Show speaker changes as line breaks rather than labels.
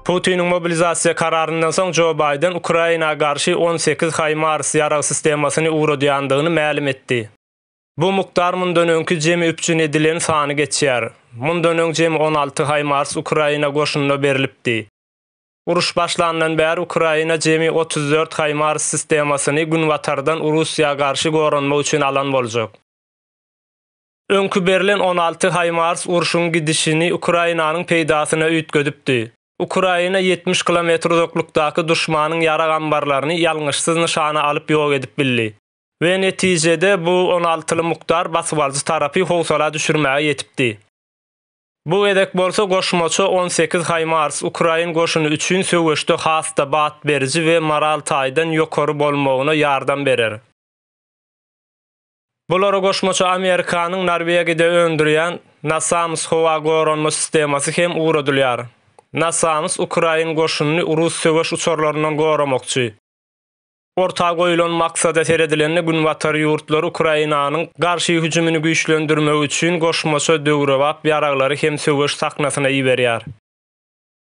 Putiniň mobilizasiýa kararyndan soň Jo Baýden Ukraina garşy on sekiz HIMARS ýarag sistemasyny ugradýandygyny mälim etdi. Bu mukdar mundan öňki jemi üpjün edilen sany geçýär. Mundan öň jemi on alty HIMARS Ukraina goşunyna berlipdi. Uruş başlandan bäri Ukraina jemi otuz dört HIMARS sistemasyny Günbatardan Russiýa garşy goranmak üçin alan boljak. Öňki berlen on alty Haýmars urşuň gidişini Ukrainanyň peýdasyna üýtgedipdi. Ukraina ýetmiş kilometr uzaklykdaky duşmanyň ýarag ambarlaryny ýalňyşsyz nyşana alyp ýok edip bildi we netijede bu on altyly mukdar basybalyjy tarapy howsala düşürmäge ýetipdi. Bu gezek bolsa goşmaça on sekiz Haýmars ukrain goşuny üçin söweşde has-da bat beriji we moral taýdan ýokary bolmagyna ýardam berer. Bulary goşmaça Amerikanyň Norwegiýada öndürýän NASAMS howa goranma sistemasy hem ugradylýar. NASAMS ukrain goşunyny rus söweş uçarlaryndan goramakçy. Orta goýlan maksada seredilende Günbatar ýurtlary Ukrainanyň garşy hüjümini güýçlendirmek üçin goşmaça döwrebap ýaraglary hem söweş sahnasyna iberýär.